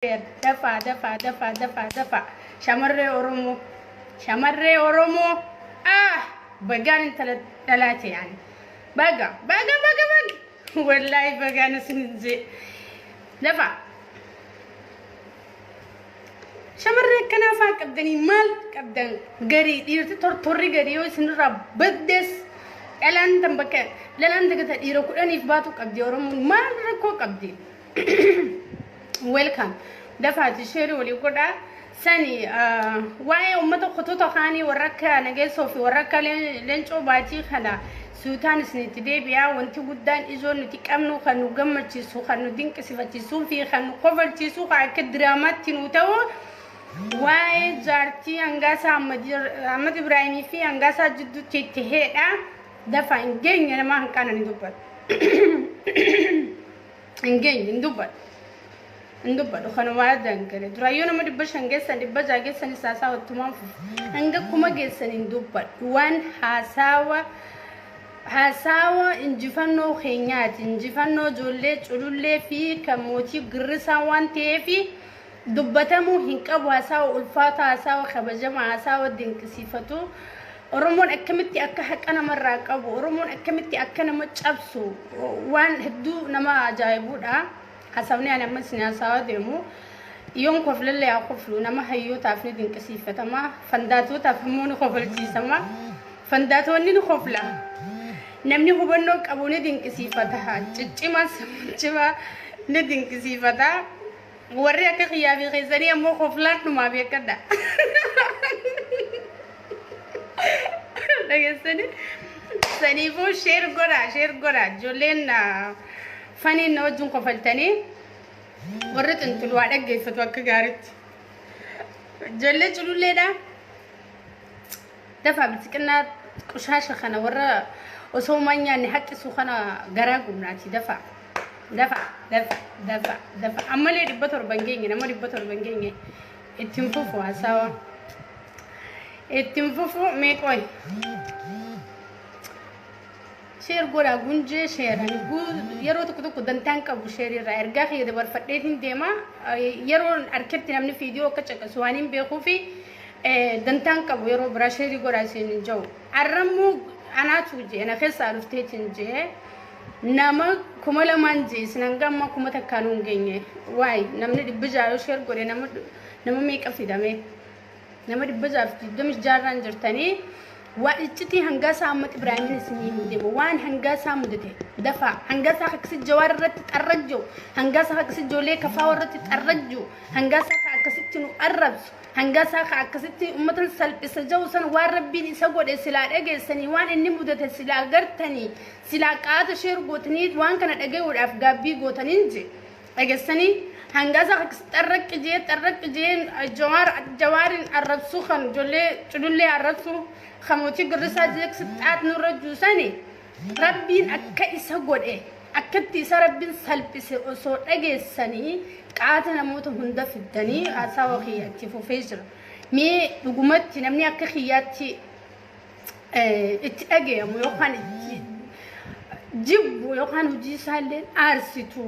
Dafaa dafaa dafaa dafaa dafaa shamarree Oromoo shamarree Oromoo ah bagaan intala dhalaa ta'e ani baga baga baga baga wallaahi bagaan isin jee dafaa shamarree akkanaa faa qabdanii maal qabdan garii dhiirti tortorri garii yoo isinirraa baddes dhalaan tan bakka dhalaan takka ta dhiira kudhaniif baatu qabdi Oromoon maal rakkoo qabdi. Welcome. Dafaati sheerii walii godhaa. Sani waa'ee uummata kutuuta kaanii warra akka nageessoo fi warra akka leencoo baatii kana suutaan isinitti deebi'aa wanti guddaan ijoon nuti qabnu kan nu gammachiisu kan nu dinqisifachiisuu fi kan nu kofalchiisu kan akka diraamaatti nu ta'u waa'ee jaartii hangaasaa Ahmad Ibraahimii fi hangaasaa jidduutti itti heedha. Dafa hin geenye nama hanqaana ni dubbatu. hin geenye hin dubbadhu hin dubbadhu kanuma addaan gale duraayyuu nama dhibba shan geessan dhibba ja'a geessan isaa isaa wattumaan fufu hanga kuma geessan hin dubbadhu waan haasaawa haasaawa injifannoo keenyaati injifannoo ijoollee culullee fi kan mootii girrisaa waan ta'eefi Dubbatamuu hin qabu hasaawa ulfaataa hasaawa kabajamaa hasaawa dinqisiifatu Oromoon akkamitti akka haqa namarraa qabu Oromoon akkamitti akka nama cabsu waan hedduu nama ajaa'ibuudha hasaawni ani amma isin hasaawaa deemu yoon koflellee haa koflu nama hayyootaaf ni dinqisiifatama fandaatootaaf immoo ni kofalchiisama fandaatoonni ni kofla namni hubannoo qabu ni dinqisiifata ciccimaa cimaa ni dinqisiifata Warri akka kiyyaa fi keessanii ammoo koflaan dhumaaf eeggadha. Dhageessanii saniifuu sheer godhaa sheer godhaa ijoolleen faniin na wajjin kofaltanii warri xinxulu waa dhaggeeffatu akka gaariitti. Ijoollee cululleedhaa. Dafaa bilxiqinnaa qushaasha kana warra osoo umaan nyaanne haqqisu kana garaa gubnaati dafa dafa dafa dafa dafa ammalee dhibba torba hin geenye nama dhibba torba hin geenye ittiin fufu haasawa ittiin fufu mee qoy Share godhaa gunjee share ani gu- yeroo tokko tokko dantaan qabu share irraa ergaa kiyya dabarfadhee hin deema Eh, yeroo arketti namni viidiyoo akka caqasu waan hin beekuu fi eh, dantaan qabu yeroo biraa share godhaa isin hin ja'u arrammoo anaatu jee na keessaa dhufteetiin jee nama kuma lamaan jee isin hanga amma kuma takkaan hin geenye waay namni dhibbi jaayoo share godhe nama nama meeqa fidamee nama dhibba jaaf digdamii jaarraan jirtanii waa iccitii hangaa isaa ammatti Ibraahimin isinii hin deema waan hangaa isaa mudate dafaa hangaa isaa akkasi jawaar irratti xarrajju hangaa isaa akkasi ijoollee kafaa irratti xarrajju hangaa isaa ka akkasitti nu arrabsu hangaa isaa ka akkasitti ummatan salphisa jau san waan rabbiin isa godhe silaa dhageessanii waan inni mudate silaa gartanii silaa qaata sheer gootanii waan kana dhagayuudhaaf gaabbii gootaniin je dhagessanii hangaasa xarraq jee xarraq jee jawaar jawaariin arrabsuu kan ijoollee culullee arrabsuu kan mootii girrisaa jeeksi xaat nurra juusani rabbiin akka isa godhe akkatti isa rabbiin salphise osoo dhageessanii qaata namoota hunda fiddanii haasawa kiyya itti fufee jira mee dhugumatti namni akka kiyyaatti eh, itti dhagayamu yookaan itti jibbu yookaan hojii isaallee aarsitu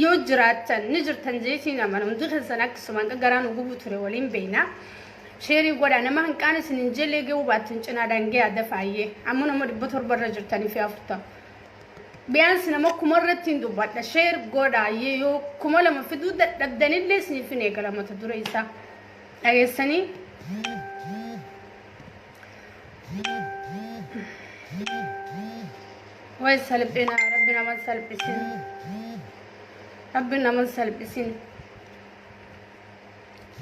yoo jiraattan ni jirtan jeetiin amana hundi keessan akkasumaan garaan nu gubu ture waliin beeyna sheerii godha nama hanqaan isin hin jellee gahuu baattan cinaa daangee adda faayyee amma nama dhibba torba irra jirtanii fi afurtama biyaansi nama kuma irratti hin dubbadha sheer godha yoo kuma lama fiduu dadhabdanillee isiniif hin eegala mata dure isaa. dhageessanii way salphina rabbi nama salphisin rabbi nama salphisin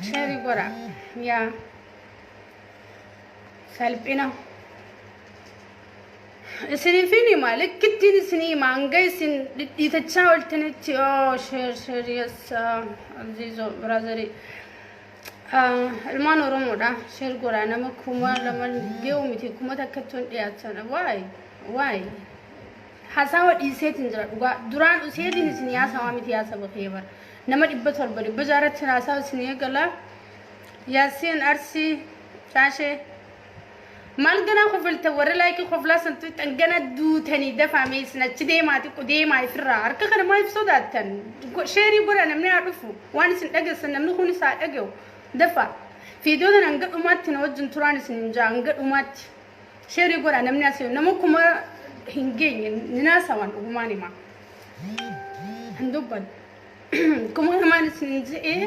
sheeri godha yaa salphina Isiniifin hima likkittiin isinii hima hanga isin dhidhiitachaa oltanitti oo sheer sheer yessa aziizo biraazari ilmaan oromoodha sheer godha nama kuma lama geewu miti kuma takkatti hin dhiyaatan waay waay hasaawa dhiiseetiin jira dhugaa duraan useetiin isin haasawaa miti haasaba kee bara nama dhibba torba dhibba jaarratti haasawa isin eegala yaasiin arsii caashee Maal ganaa kofalta warra laayikii koflaa santu tan gana duutanii dafaa mee isin achi deemaa xiqqo deemaa ifirraa harka kana maa if sodaattan sheerii godha namni haa dhufu waan isin dhageessan namni kun isaa dhage'u dafaa fiidiyoo tan hanga dhumaatti na wajjin turaan isin hin jaa hanga dhumaatti sheerii godha namni asii nama kuma hin geenye ni naasawaan dhugumaan himaa hin dubbanne kuma lamaan isin hin je'ee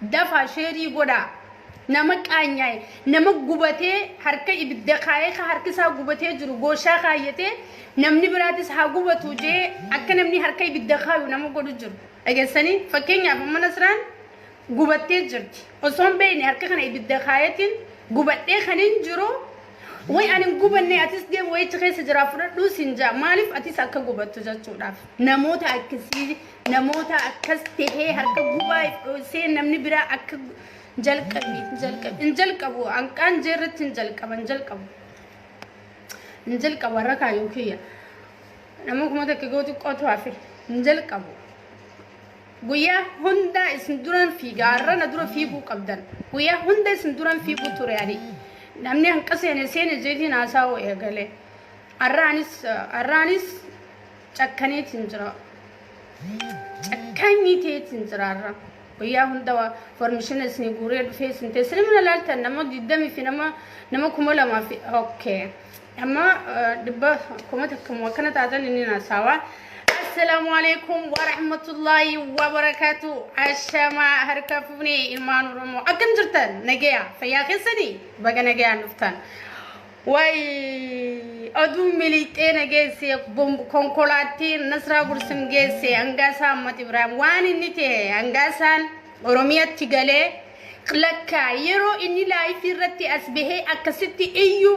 Dafaa sheerii godhaa. Nama qaanyaa'e, nama gubatee harka ibidda kaayee ka harki isaa gubatee jiru gooshaa kaayyatee namni biraatis haa gubatu jee akka namni harka ibidda kaayu nama godhu jiru. Dhageessanii? Fakkeenyaaf amma Nasraan gubattee jirti. Osoo hin beekne harka kana ibidda kaayatiin gubadhee kan hin jiru way ani hin gubanne atis deem wayichi keessa jiraa fudhadhuu siin jaa. Maaliif atis akka gubattu jechuudhaaf. Namoota akkasii namoota akkas tahee harka gubaa dhoosee namni biraa akka jalqabi jalqabi hin jalqabu hanqaan jee irratti hin jalqaba hin jalqabu hin jalqabu warra kaayuu kiyya nama kuma takka gootu qotu hafe hin jalqabu guyyaa hundaa isin duran fiigaa har'a na dura fiiguu qabdan guyyaa hunda isin duran fiiguu ture ani namni hanqa seene seene jeetiin haasaa'uu eegalee har'aanis har'aanis Cakkaneetiin jira. Cakkaanyii ta'eetiin jira har'a. Guyyaa hunda waa formishina isinii guuree dhufee isin ta'e. Isin mana laaltan nama digdamii fi nama nama kuma lamaa fi okay. Amma dhibba kuma takka moo akkana taatan inni naasawa. Assalaamu alaikum wa rahmatullaahi wa barakaatu. Ashamaa harka fuunee ilmaan Oromoo. Akkam jirtan? Nagaya. Fayyaa keessanii? Baga nagayaan dhuftan. Way oduu miliixee na geesse konkolaattiin Nasraa Gursim geesse Angaasaa Ahmad Ibrahim waan inni ta'e Angaasaan Oromiyaatti galee lakka yeroo inni laayifii irratti as bahee akkasitti iyyu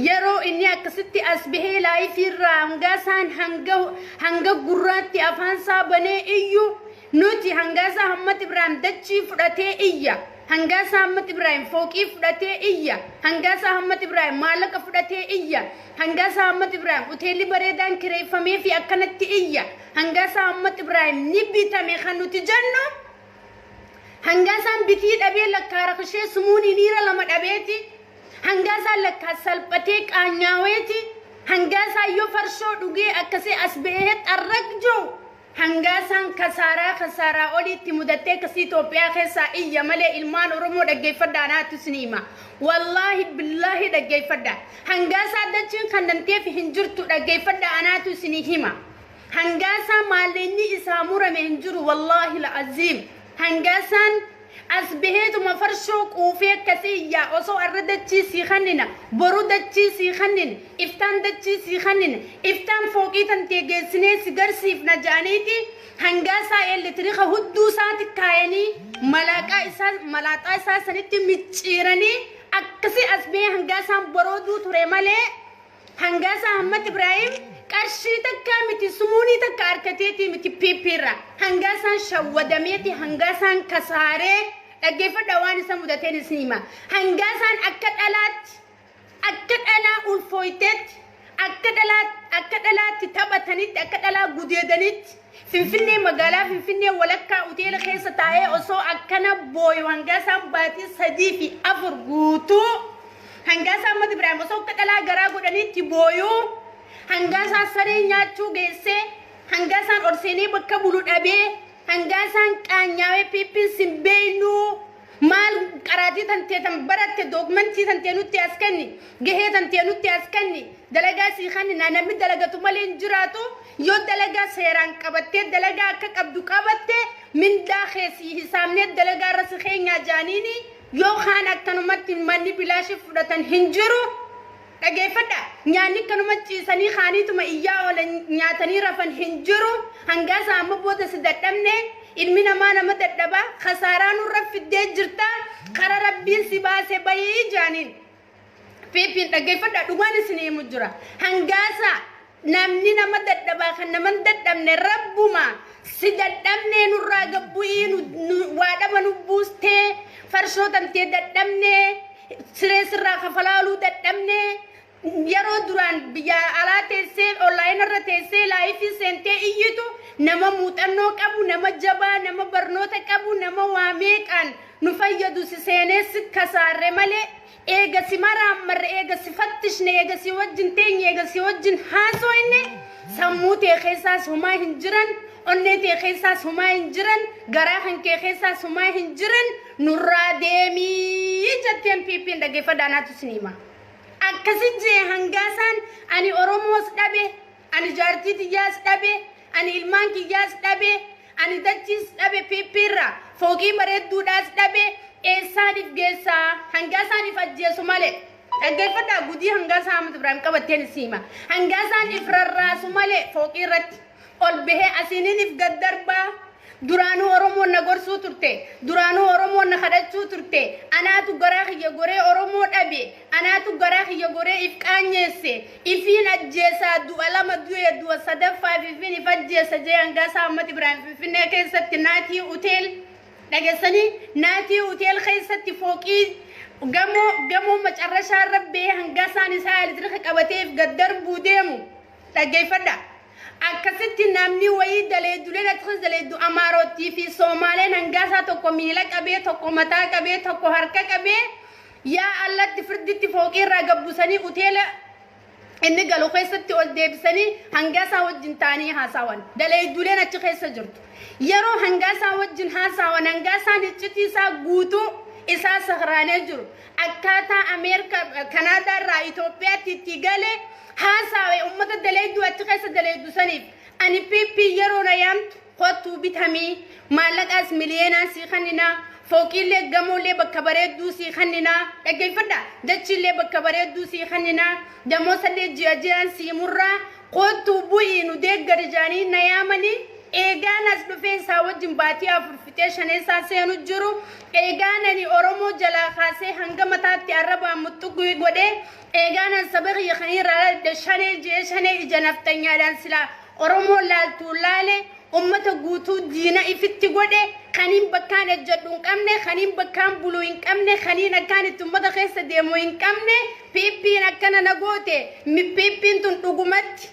yeroo inni akkasitti as bahee laayifii irraa Angaasaan hanga hanga gurraatti afaan isaa banee iyyu Nuti hangaasaa Ahmad Ibraahim dachii fudhatee iyya, hangaasaa Ahmad Ibraahim fooqii fudhatee iyya, hangaasaa Ahmad Ibraahim maallaqa fudhatee iyya, hangaasaa Ahmad Ibraahim hoteelli bareedaan kireeffamee fi akkanatti iyya, hangaasaa Ahmad Ibraahim ni bitame kan nuti jennu hangaasaan bitii dhabee lakkaa rakishee sumuunii niira lama dhabeeti, hangaasaan lakkaa salphatee qaanyaaweeti, hangaasaan yoo farshoo dhugee akkasee as ba'ee xarraq jiru Hangaasaan kasaaraa kasaaraa oliitti mudattee kasii Itoophiyaa keessaa iyya malee ilmaan Oromoo dhaggeeffadha anaatu isinii hima. Wallaahi billaahi dhaggeeffadha. Hangaasaa dachiin kannamteef hin jirtu dhaggeeffadha anaatu isinii hima. Hangaasaa maalleenyi isaa murame hin jiru wallaahi la'aziim. Hangaasaan as baheetuma farshoo quufee akkasii iyyaa osoo arra dachii sii kannina, boru dachii sii kannina, iftaan dachii sii kannina, iftaan fooqii tantee geessinee si garsiifna ja'aniiti Hangaasaa eeletirika hudduu isaati kaayanii malaaqaa isaa malaaxaa isaa sanitti micciiranii akkasii as bahee Hangaasaan borooduu ture malee Hangaasaa Ahmad Ibrahim qarshii takkaa miti sumuunii takka harkateetii miti PP irra. Hangaasaan shawwadameeti hangaasaan kasaaree dhaggeeffadha waan isa mudateen isin hima. Hangaasaan akka dhalaatti akka dhalaa ulfooyteetti akka dhalaa akka dhalaatti taphatanitti akka dhalaa gudeedanitti Finfinnee magaalaa Finfinnee walakkaa uteela keessa taa'ee osoo akkana booyu Hangaasaan baatii sadii fi afur guutuu Hangaasaa Ahmad Ibraahim osoo akka dhalaa garaa godhaniitti booyu Hangaasaa saree nyaachuu geesse Hangaasaan ol seenee bakka bulu dhabee Hangaasaan qaanyaawee piippiin sin beeynuu Maal qaraatii tantee tan baratte dookmentii tantee nutti as kenni gahee tantee nutti as kenni dalagaa sii kennina namni dalagatu malee hin jiraatu yoo dalagaa seeraan qabattee dalagaa akka qabdu qabatte mindaa kee sii hisaabnee dalagaa irra si keenyaa jaaniini yoo kaan akkanumatti manni bilaashif fudhatan hin jiru Dhageeffadhaa! Nyaanni akkanuma ciisanii kaaniituma iyyaa oolan nyaatanii rafan hin jiru. Hangaa isaa amma booda si dadhabne. Ilmi namaa nama dadhaba. Kasaaraa nurra fiddee jirta. Kara rabbiin si baase bayii jaaniin. Fiifiin dhageeffadhaa dhugaan isin himu jira. Hangaa isaa Namni nama dadhabaa kan nama hin dadhabne rabbuma si dadhabnee nurraa gabbu'ii nu- nu- waa dhaba nu buustee farshoo tantee dadhabnee siree sirraa kafalaaluu dadhabnee yeroo duraan biyya alaa teessee onlaayina irra teessee laayifii seentee iyyitu nama muuxannoo qabu nama jabaa nama barnoota qabu nama waa meeqaan nu fayyadu si seenee si kasaarre malee Eega si maraammarre, eega si fattishne, eega si wajjin teenye, eega si wajjin haasooyne, sammuu tee keessaas homaa hin jiran, onnee tee keessaas homaa hin jiran, garaa kan kee keessaas homaa hin jiran, nurraa deemii jetteen PPn dhaggeeffadha anaatu isin hima. Akkasi jee hangaasaan ani Oromoos dhabe, Ani jaartii tiyyaas dhabe, ani ilmaan kiyyaas dhabe, ani dachiis dhabe PP irraa, fooqii bareedduudhaas dhabe, eessaan if geessa? Hangaasaan if ajjeesu malee. Dhaggeeffadhaa gudii hangaasaa Ahmad Ibraahim qabatteen isii hima. Hangaasaan if rarraasu malee fooqii irratti ol bahee asiinin if gad darbaa. Duraanuu Oromoon na gorsuu turte. Duraanuu Oromoon na kadhachuu turte. Anaatu garaa kiyya goree Oromoo dhabe. Anaatu garaa kiyya goree if qaanyeesse. Ifiin ajjeesa, du'a lama du'e, du'a sadaffaaf ifiin if ajjeesa jee Angaasaa Ahmad Ibraahim Finfinnee keessatti Naatii Huteel dhagessanii Naatii Huteel keessatti fooqii gamoo gamoo macarrashaa irra bee hangasaan isaa elektiriika qabatee if gad darbuu deemu dhaggeeffadha. Akkasitti namni wayii daleeduleen akkasumas daleeddu Amaarottii fi Soomaaleen hangaasaa tokko miila qabee, tokko mataa qabee, tokko harka qabee Yaa Allatti firditti fooqii irraa gad busanii uteela inni galu keessatti ol deebisanii hangaasaa wajjin taa'anii haasaawan. Daleeyduuleen achi keessa jirtu. Yeroo hangaasaa wajjin haasaawan hangaasaan iccitii isaa guutuu isaa sakraanee jiru. Akkaataa Ameerika Kanaadaa irraa Itoophiyaatti itti gale haasaawe uummata daleeyduu achi keessa daleeydu saniif ani PP yeroo na yaamtu Kottuu bitami, maallaqaas miliyeenaan sii kanninaa, fooqiillee, gamoollee, bakka bareedduu sii kanninaa, dhaggeeffadhaa, dachiillee, bakka bareedduu sii kanninaa, damoosallee ji'a ji'aan sii murraa, koottuu bu'ii nu deeggari jedhanii na yaamanii, eegaan as dhufee isaa wajjin baatii afur fixee shaneessaa seenu jiru, eegaan ani Oromoo jalaa kaasee hanga mataatti arrabaan muxxuqui godhee, eegaan an saba kiyya kan irraa dhaladhe shanee jedhee shanee ija nafxanyaadhaan silaa Oromoo laaltuun laale, ummata guutuu diina ifitti godhe, kaniin bakkaan ejjadhu hin qabne, kaniin bakkaan bulu hin qabne, kaniin akkaan itti ummata keessa deemu hin qabne, PPn akkana na goote, PPn tun dhugumatti,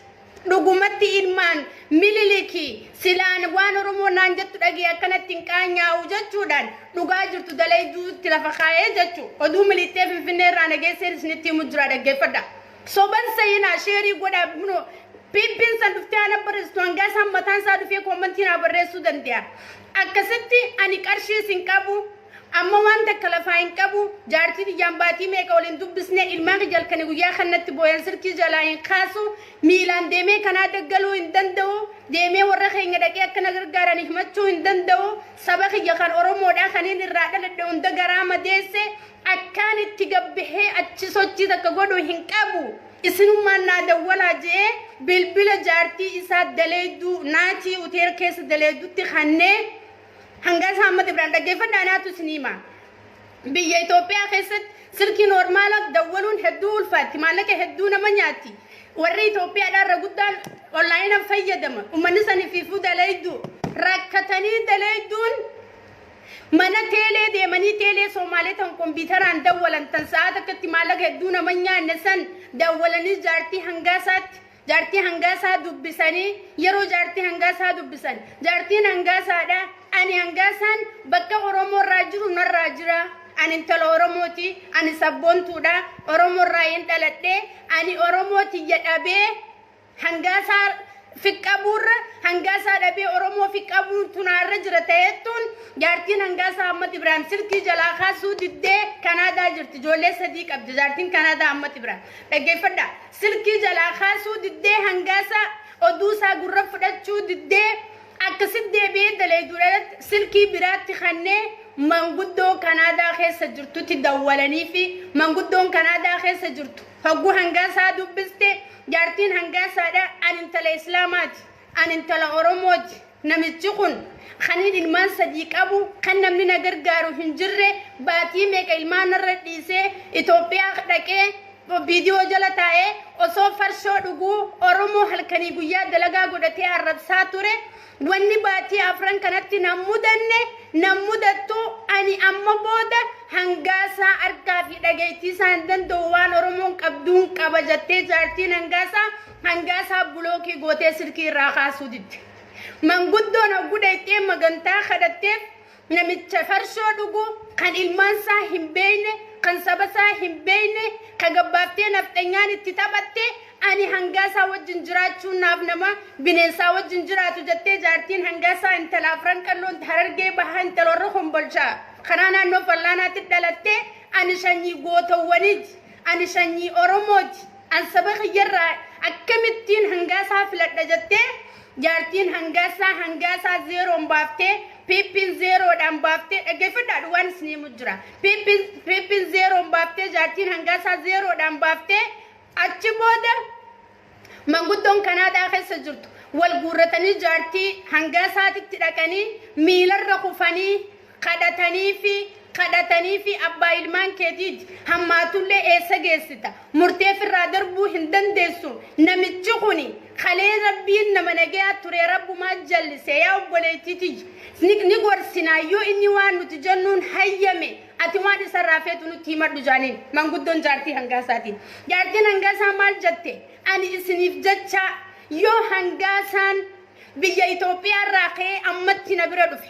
dhugumatti ilmaan Mililiki, silaa waan Oromoon naan jettu dhagahee akkanatti hin qaanyaa'u jechuudhaan dhugaa jirtu dalayduutti lafa kaa'e jechu. Oduu Miliixxee Finfinnee irraa na geesseen isinitti himu jira dhaggeeffadha. Soban seyinaa sheerii godhaa kunoo piippiin san dhuftee ana barreessitu hangaa isaan mataan isaa dhufee koommantii naa barreessuu danda'a. Akkasitti ani qarshiis hin qabu amma waan takka lafaa hin qabu jaartii tiyyaan baatii meeqa wal hin dubbisne ilmaan kiyya halkanii guyyaa kan natti booyan silkii jalaa hin kaasu miilaan deemee kanaa daggaluu hin danda'u deemee warra keenya dhaqee akka na gargaaran himachuu hin danda'u saba kiyya kan Oromoodhaa kaniin irraa dhaladhe hunda garaa madeesse Akkaan itti gabbahee achi sochii takka godhu hin qabu. Isinummaan naa dawwalaa je'ee bilbila jaartii isaa daleeyduu Naatii Uteer keessa daleeydutti kannee Hangaa isaa Ahmad Ibraan dhaggeeffadhaa anaatu isin hima. Biyya Itoophiyaa keessatti silkii noormaalaaf dawwaluun hedduu ulfaatti. Maallaqa hedduu nama nyaatti. Warri Itoophiyaadhaa irra guddaan onlaayinaan fayyadama. Ummanni sanifiifuu daleeyduu. Rakkatanii daleeyduun Mana teelee deemanii teelee Soomaalee tan kompiitaraan dawwalan tan sa'aa takkatti maallaqa hedduu nama hin nyaanne san dawwalanii jaartii hangaasaatti jaartii hangaasaa dubbisanii yeroo jaartii hangaasaa dubbisan jaartiin hangaasaadha ani hangaasaan bakka Oromoo irraa jiru narraa jira ani intala Oromooti ani sabboontuudha Oromoo irraa hin dhaladhe ani Oromoo tiyya dhabee hangaasaa fiqqabuurra hangaasaa dhabee Oromoo fiqqabuun tunaarra jira ta'ettuun jaartiin hangaasaa Ahmad Ibrahim silkii jalaa kaasuu diddee Kanaadaa jirti ijoollee sadii qabdi jaartiin Kanaadaa Ahmad Ibrahim dhaggeeffadha silkii jalaa kaasuu diddee hangaasaa oduusaa gurra fudhachuu diddee akkasitti deebi'ee daleeduudhaatti silkii biraatti kannee manguddoo Kanaadaa keessa jirtutti dawwalanii fi manguddoon Kanaadaa keessa jirtu Hogguu Hangaasaa dubbiste jaartiin Hangaasaadha an intala Islaamaati, an intala Oromooti, namichi kun kanin ilmaan sadii qabu, kan namni na gargaaru hin jirre, baatii meeqa ilmaan narra dhiisee Itoophiyaa dhaqee Opdo jala taa'ee osoo farshoo dhuguu Oromoo halkanii guyyaa dalagaa godhatee arrabsaa ture, Wanni baatii afran kanatti nan mudanne, nan mudattu, ani amma booda Hangaasaa argaa fi dhageettii isaa hin danda'u waan Oromoon qabduun qaba jattee jaartiin Hangaasaa Hangaasaa bulookii gootee silkii irraa kaasuu didde. Manguddoon hoggu dhayxee magantaa kadhatteef Namicha farshoo dhugu kan ilmaansaa hin beeyne kan sabasaa hin beeyne ka gabbaaftee nafxanyaan itti taphatte ani hangaasaa wajjin jiraachuun naaf nama bineensaa wajjin jiraatu jettee jaartiin hangaasaa intala afran qalloo harargee bahaa intala warra kombolchaa kanaa naannoo fallaanaatti dhalatte ani shanyii gootowwaniiti ani shanyii oromooti an saba kiyyarraa akkamittiin hangaasaa filadha jettee Jaartiin Hangaassaa Hangaasaa zeeroon baaftee Piippiin zeeroodhaan baaftee dhaggeeffadhaadhu waan isin himu jira. Piippiin zeeroon baaftee jaartiin Hangaasaa zeeroodhaan baaftee achi booda manguddoon Kanaadaa keessa jirtu wal guurratanii jaartii Hangaasaatitti dhaqanii miilarra kufanii kadhataniifi kadhataniifi abbaa ilmaan keetiiti hammaatullee eessa geessita murtee firraa darbuu hin dandeessu namichi kuni kalee rabbiin nama nagayaa ture rabbumaa jallise yaa obboleettii tiyya ni, ni gorsinaa yoo inni waan nuti jennuun hayyame ati waan isarraa feetu nutti himadhu jaaniin manguddoon jaartii hangaasaatiin jaartiin hangaasaa maal jette ani isiniif jechaa yoo hangaasaan biyya Itoophiyaa irraa ka'ee ammatti na bira dhufe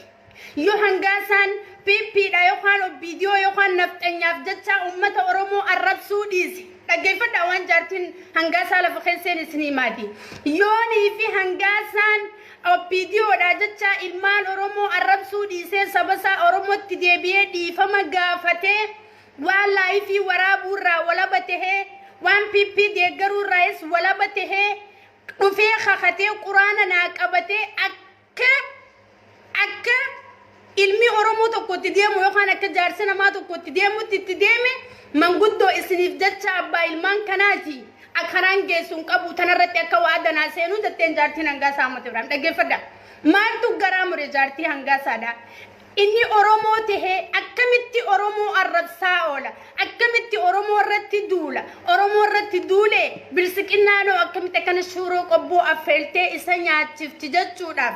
Yoo hangaa isaan PP dha yookaan OPDO yookaan nafxanyaaf jechaa uummata Oromoo arrabsuu dhiise. Dhaggeeffadhaa waan jaartiin hangaa isaa lafa keesseen isin himaati. Yoonii fi hangaa isaan OPDO dha jechaa ilmaan Oromoo arrabsuu dhiisee saba isaa Oromootti deebi'ee dhiifama gaafatee waan laayifii waraabuu irraa walaba tahee waan PP deeggaruu irraayis walaba tahee dhufee kakatee quraana naa qabatee akka Akka akka ilmi Oromoo tokko itti deemu yookaan akka jaarsi namaa tokko itti deemutti itti deeme manguddoo isiniif jecha abbaa ilmaan kanaati akkanaan geessu hin qabu tanarratti akka waa danaa seenuu jetteen jaartiin hangaasaa Ahmad Ibrahim dhaggeeffadha. Maaltu garaa mure jaartii hangaasaadha. Inni Oromoo tahee akkamitti Oromoo arrabsaa oola? Akkamitti Oromoo irratti duula? Oromoo irratti duulee bilsiqinnaanoo akkamitti akkana shuuroo qobboo affeeltee isa nyaachifti jechuudhaaf.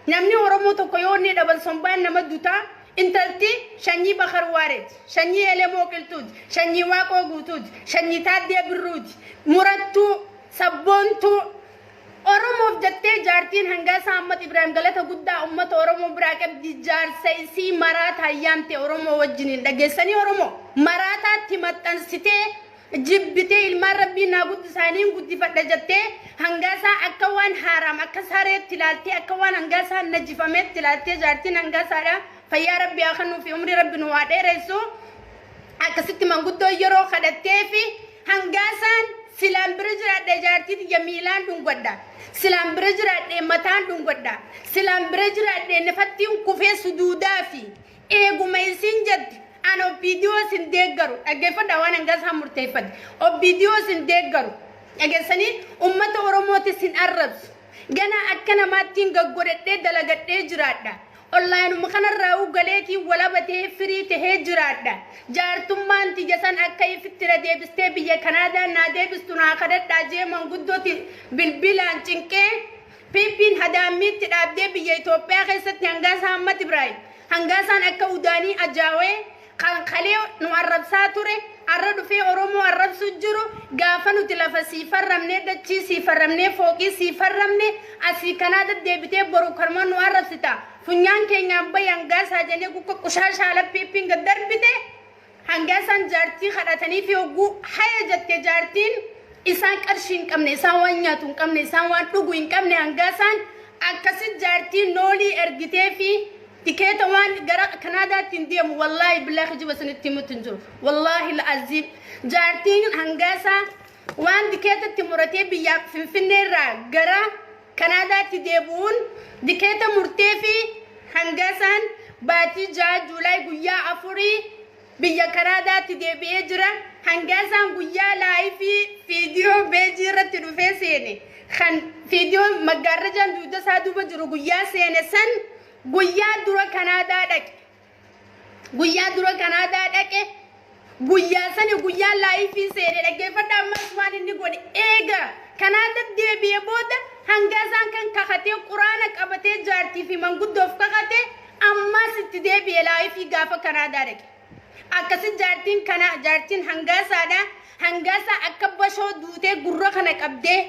Namni Oromoo tokko yoo inni dhaban sombaan nama dutaa intalti shanyii Bakar Waareeti, shanyii Elemoo Qilxuuti, shanyii Waaqoo Guutuuti, shanyii Taaddee Birruuti, murattuu, sabboontuu, Oromoof jattee jaartiin hangaa isaa Ammat Ibraahim galata guddaa ummata Oromoo biraa qabdi jaarsa isii maraataan yaamte Oromoo wajjiniin dhageessanii Oromoo maraataatti maxxansitee jibbitee ilmaan rabbiin naa guddisaaniin guddifadha jattee hangaa isaa akka waan haaraam akka sareetti ilaaltee akka waan hangaa isaa najifameetti ilaaltee jaartiin hangaa isaadha fayyaa rabbi haa kanuufi umrii rabbi nu haa dheeressu akkasitti manguddoo yeroo kadhatteefi Hangaasaan silaan bira jiraadhe jaartii tiyya miilaan dhungadha. Silaan bira jiraadhe mataan dhungadha. Silaan bira jiraadhe nifattiin kufee suduudaa fi eeguma isiin jette an obbiidiyoo isin deeggaru dhaggeeffadha waan hangaasaan murteeffate obbiidiyoo isin deeggaru dhageessanii ummata oromooti isin arrabsu ganaa akka namaattiin gaggodhadhee dalagadhee jiraadha. Onlaayinuma kanarraa uggaleetiin walabatee firii tahee jiraadha. Jaartummaan tiyya san akka ifitti na deebistee biyya Kanaadaan naa deebistu naa kadhadhaa jee manguddoti bilbilaan cinqee piippiin hadaammiitti dhaabdee biyya Itoophiyaa keessatti hangaasa Hammat Ibraahim hangaasaan akka udaanii ajaawee Kan kalee nu arrabsaa ture, arra dhufee Oromoo arrabsuu jiru, gaafa nuti lafa siif arrabnee, dachii siif arrabnee, fooqii siif arrabne, asii kanaa daddeebitee boru kanuma nu arrabsita. Funyaan keenyaan bahi Hangaasaa jenee gukka qushaashaa ala piippiin gad darbite. Hangaasaan jaartii kadhataniifi hogguu haya jette jaartiin isaan qarshii hin qabne, isaan waan nyaatu hin qabne, isaan waan dhugu hin qabne Hangaasaan akkasi jaartii noolii ergiteefi. Tikeeta waan gara Kanaadaa ittiin deemu wallaahi billaa kijiba isinitti himutti hin jiru. Wallaahi la'aziim jaartiin hangaasaa waan tikeetatti muratee biyyaa Finfinnee irraa gara Kanaadaatti deebi'uun tikeeta murtee fi hangaasaan baatii ja'a Juulaay guyyaa afurii Biyya Kanaadaatti deebi'ee jira. Hangaasaan guyyaa laayifii viidiyoo beejii irratti dhufee seene kan viidiyoo maggaarrajaan dugda isaa duuba jiru guyyaa seene san guyyaa dura Kanaadaa dhaqe. Guyyaa dura Kanaadaa dhaqe guyyaa sani guyyaa laayifii seene dhaggeeffadha ammas waan inni godhe eega Kanaada deebi'ee booda hangaasaan kan kakatee quraana qabatee jaartii fi manguddoof kakatee Ammaas itti deebi'e laayifii gaafa Kanaadaa dhaqe. Akkasi jaartiin kana jaartiin hangaasaadha. Hangaasaa akka bashoo duutee gurra kana qabdee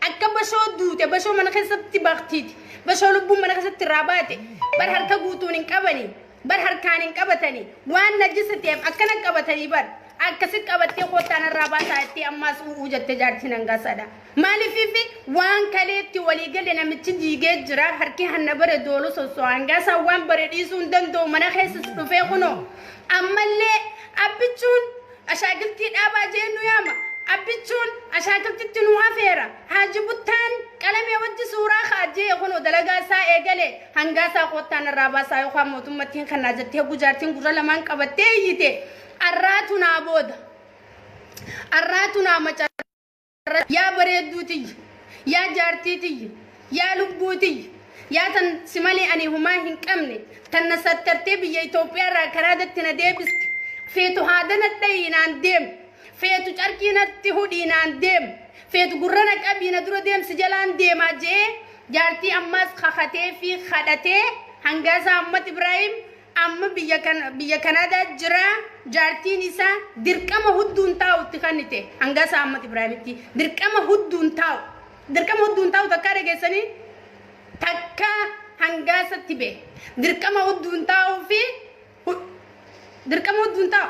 akka bashoo duute bashoo mana keessatti baktiiti. Bashoo lubbuun mana keessatti irraa baate bar harka guutuun hin qabanii bar harkaan hin qabatanii waan najisa ta'eef akkana qabatanii bar akkasi qabattee kottaan irraa baasaa itti ammaas u'uu jette jaartiin hangaasaadha. Maalifiif waan kaleetti walii galle namichi diigee jira harki hanna bare doolu sosso'a hangaasaa waan bare dhiisuu hin danda'u mana keessas dhufee kunoo ammallee abbichuun ashaakiltii dhaabaa jee nu yaama abbichuun ashaakiltitti nu afeera haaji buttaan qalamee wajji suuraa ka'a jee kunoo dalagaa isaa eegale hangaasaa koottaa narraa baasaa yookaan mootummatti hin kannaa jettee hoggu jaartiin gurra lamaan qabattee iyyite arraatu naa booda arraatu naa macara irratti yaa bareedduu tiyya yaa jaartii tiyya yaa lubbuu tiyya yaa tan si malee ani humaa hin qabne tan na sattartee biyya Itoophiyaa irraa karaa datti na deebiste feetu haada na dhayii naan deem feetu carqii natti hudhii naan deem feetu gurra na qabii na dura deemsi jalaan deemaa je'ee jaartii ammaas kakatee fi kadhatee hangaasaa Ahmad Ibraahim Amma biyya Kanaadaa jira jaartiin isaa dirqama hudduun taa'u itti kannite hangaa isaa Ahmad Ibraahimitti dirqama hudduun taa'u dirqama hudduun taa'u takkaa dhageessanii takka hangaasatti bee dirqama hudduun taa'uu fi dirqama hudduun taa'u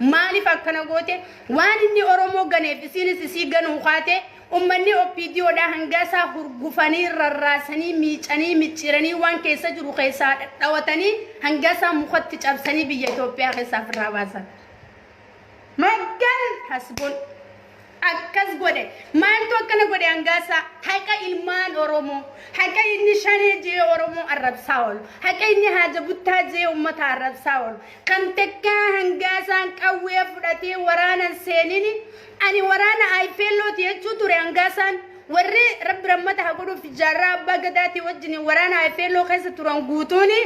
Maaliif akkana goote? Waan inni Oromoo ganeef isiinis isii ganuu kaate, ummanni OPDOdhaa hangaa isaa hurgufanii, rarraasanii, miicanii, micciiranii waan keessa jiru keessaa dhadhawatanii hangaa isaa mukatti cabsanii biyya Itoophiyaa keessaa firraa baasan. Maggan hasbun. akkas godhe maaltu akkana godhe hangaasaa haqa ilmaan oromoo haqa inni shanee jee oromoo arrabsaa oolu haqa inni haaja buttaa jee ummata arrabsaa oolu kan takkaa hangaasaan qawwee fudhatee waraanan seenini ani waraana ayfeellooti jechuu ture hangaasaan warri rabbi rammata haa godhuuf jaarraa abbaa gadaatii wajjin waraana ayfeelloo keessa turan guutuuni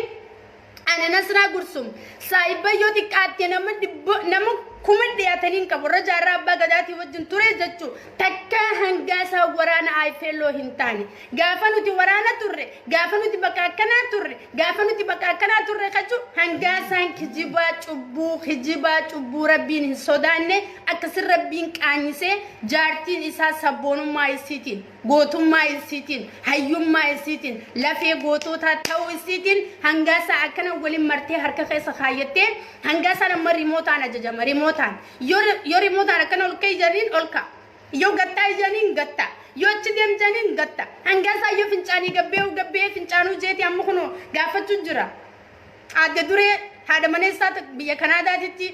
Ani Nasraa Gursum saahibba yoo xiqqaatte nama dhibbo nama kuma dhiyaatanii hin qabu irra jaarraa abbaa gadaatii wajjin ture jechuu takka hangaa isaa waraana ayifeelloo hin taane gaafa nuti waraana turre gaafa nuti bakka akkanaa turre gaafa nuti bakka akkanaa turre kachuu hangaa isaan kijibaa cubbuu kijibaa cubbuu rabbiin hin sodaanne akkasin rabbiin qaanyisee jaartiin isaa sabboonummaa isiitiin Gootummaa isiitiin, hayyummaa isiitiin, lafee gootootaa ta'uu isiitiin hangaasaa akkana waliin martee harka keessa kaayyattee hangaasaan amma rimootaan ajajama. Rimootaan. Yoo rimootaan akkana ol ka'e jedhaniin ol ka'a. Yoo gattaa jedhaniin gatta. Yoo achi deem jedhaniin gatta. Hangaasaa yoo fincaanii gabbee gabbee fincaanuu jeeti amma kunoo gaafachuu jira. Aadde Duree haadha maneessaa ta- biyya Kanaadaatitti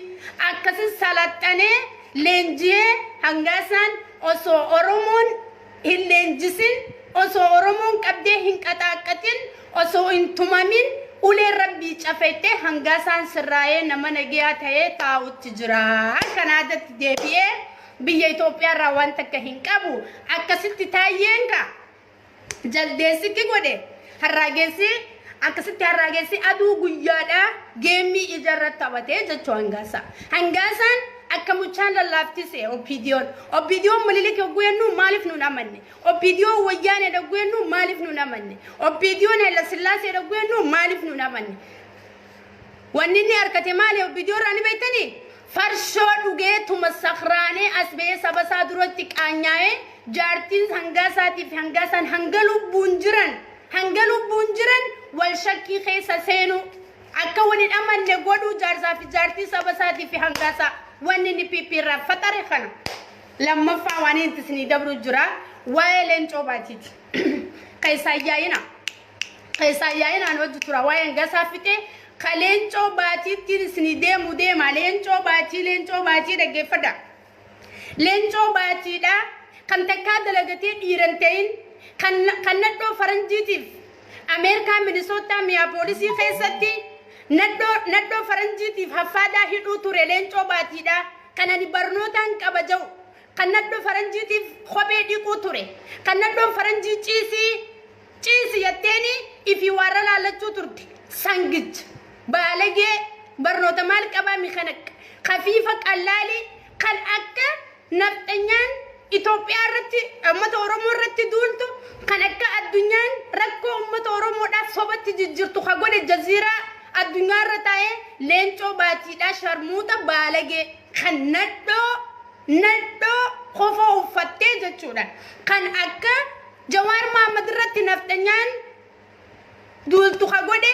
akkasin salaxanee leenjiyee hangaasaan osoo Oromoon hin leenjisin osoo Oromoon qabdee hin qaxaaqqaxin osoo hin tumamin ulee rabbii cafettee hangaasaan sirraayee nama nageyaa ta'ee taa'utti jira. Kanaadatti deebi'ee biyya Itoophiyaa irraa waan takka hin qabu akkasitti taayyeen kaa. jaldeessitti godhe harraageessi akkasitti harraageessi aduu guyyaadhaa geemmii ijarra taphatee jechuu hangaasaa. Hangaasaan akka muchaan lallaaftise oppiidiyoon. Oppiidiyoon mililik yogguu jennu maaliif nuun amanne? Oppiidiyoon wayyaanee yogguu jennu maaliif nuun amanne? Oppiidiyoon Hayilasillaasee yogguu jennu maaliif nuun amanne? Wanni inni harkate maali oppiidiyoorraa ni beektanii? Farshoo dhugee tuma sakraanee as ba'ee saba isaa duratti qaanyaa'ee jaartiin hangaa isaatii fi hangaa isaan hanga lubbuun jiran hanga lubbuun jiran wal shakkii keessa seenuu akka wal hin amanne godhuu jaarsaa fi jaartii saba isaatii fi hangaa isaa wanni inni PP irraa faxare kana lammaffaa waan inni isinii dabru jira waa'ee leencoo baatiiti keessaa yaa'ina. saayyaa'inaan hojji tura waa'een gasaa fixee ka leencoo baatiittiin isinii deemu deema leencoo baatii leencoo baatii dhaggeeffadha leencoo baatiidha kan takkaa dalagatee dhiiran ta'in kan kan nadhoo faranjiitiif ameerikaa minisootaa miyaa poolisii keessatti nadhoo nadhoo faranjiitiif haffaadaa hidhuu ture leencoo baatiidha kan ani barnootaan qaba ja'u kan nadhoo faranjiitiif kophee dhiquu ture kan nadhoon faranjii ciisii Ciisi jetteenii ifii waarra laallachuu turte sangij baalagee barnoota maal qabaa mi kan akka kafiifa qallaali kan akka nafxanyaan Itoophiyaa irratti ummata Oromoo irratti duultu kan akka addunyaan rakkoo ummata Oromoodhaaf sobatti jijjirtu ka godhe jaziiraa addunyaa irra taa'ee leencoo baatiidhaa sharmuuxa baalagee kan nadhoo Nadhoo kofoo uffattee jechuudhaan kan akka Jawaar Mahammad irratti nafxanyaan duultu ka godhe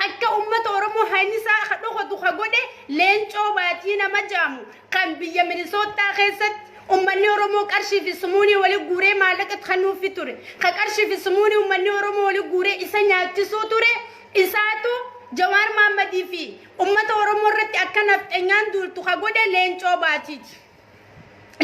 akka ummata Oromoo haynisaa ka dhokotu ka godhe Leencoo Baatii nama jaamu kan biyya Minisoottaa keessatti ummanni Oromoo qarshii fi sumuunii wali guuree maallaqa itti kennuufi ture ka qarshii fi sumuunii ummanni Oromoo wali guuree isa nyaachisuu ture isaatu Jawaar Mahammadii fi Ummata Oromoo irratti akka nafxenyaan duultu ka godhe Leencoo Baatiiti.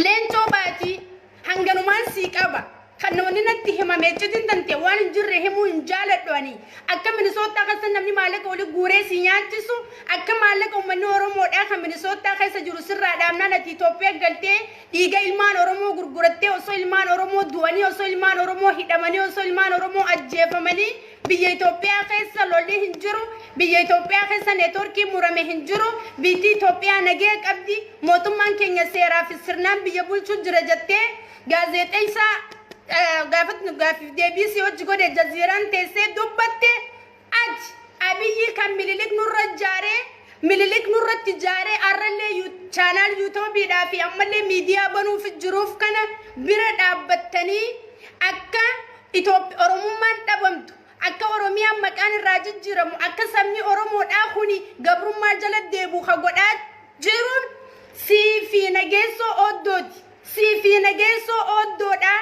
Leencoo Baatii hanganumaan sii qaba. Kan namni natti himame iccitiin tante waan hin jirre himuu hin jaaladhu ani. Akka Minisoottaa keessa namni maallaqa oli guuree si nyaachisu akka maallaqa uummanni Oromoodhaa kan Minisoottaa keessa jiru sirraa dhaabnaan ati Itoophiyaa galtee dhiiga ilmaan Oromoo gurgurattee osoo ilmaan Oromoo du'anii osoo ilmaan Oromoo hidhamanii osoo ilmaan Oromoo ajjeefamanii Biyya Itoophiyaa keessa lolli hin jiru, biyya Itoophiyaa keessa neetworkiin murame hin jiru, biyytti Itoophiyaa nagaya qabdi, mootummaan keenya seeraa fi sirnaan biyya bulchuu jira jettee gaazeexeessaa gaafatnu gaaffiif deebii si hojji godhe jaziiraan teessee dubbatte ati Abiyyii kan Mililik nurra jaaree Mililik nurratti jaaree arrallee chaanaal yuutoobiidhaa fi ammallee miidiyaa banuuf jiruuf kana bira dhaabbattanii akka Itooph Oromummaan dhabamtu, akka Oromiyaan maqaan irraa jijjiiramu, akka sabni Oromoo dhaa kuni gabrummaa jala deebu ka godhaa jiruun sii fi Nageessoo Ooddooti. Sii fi Nageessoo Ooddoo dhaa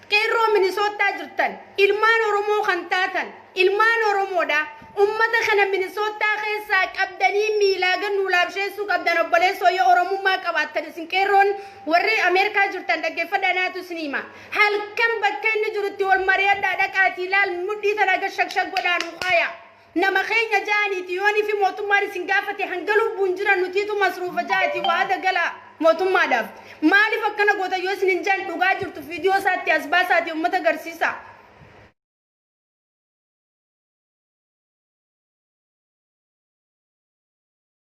Qeerroo Minisoottaa jirtan, ilmaan Oromoo kan taatan, ilmaan Oromoo dhaa. Ummata kana Minisoottaa keessaa qabdanii miilaa gad nuu laabsheessuu qabdan obboleessoo yoo Oromummaa qabaattan isin Qeerroon warri Ameerikaa jirtan dhaggeeffadhaa naatu isin hima. Halkan bakka inni jirutti wal mari'adhaa dhaqaatii laal mudhii tana gad shakshak godhaa nu kaaya. Nama keenya ja'aniiti yoonii fi mootummaan isin gaafate hanga lubbuun jiran nutiitu masruufa ja'atii wa'ada gala mootummaadhaaf. Maaliif akkana goota yoo isinin ja'an dhugaa jirtu viidiyoo isaatti as baasaatii ummata garsiisaa.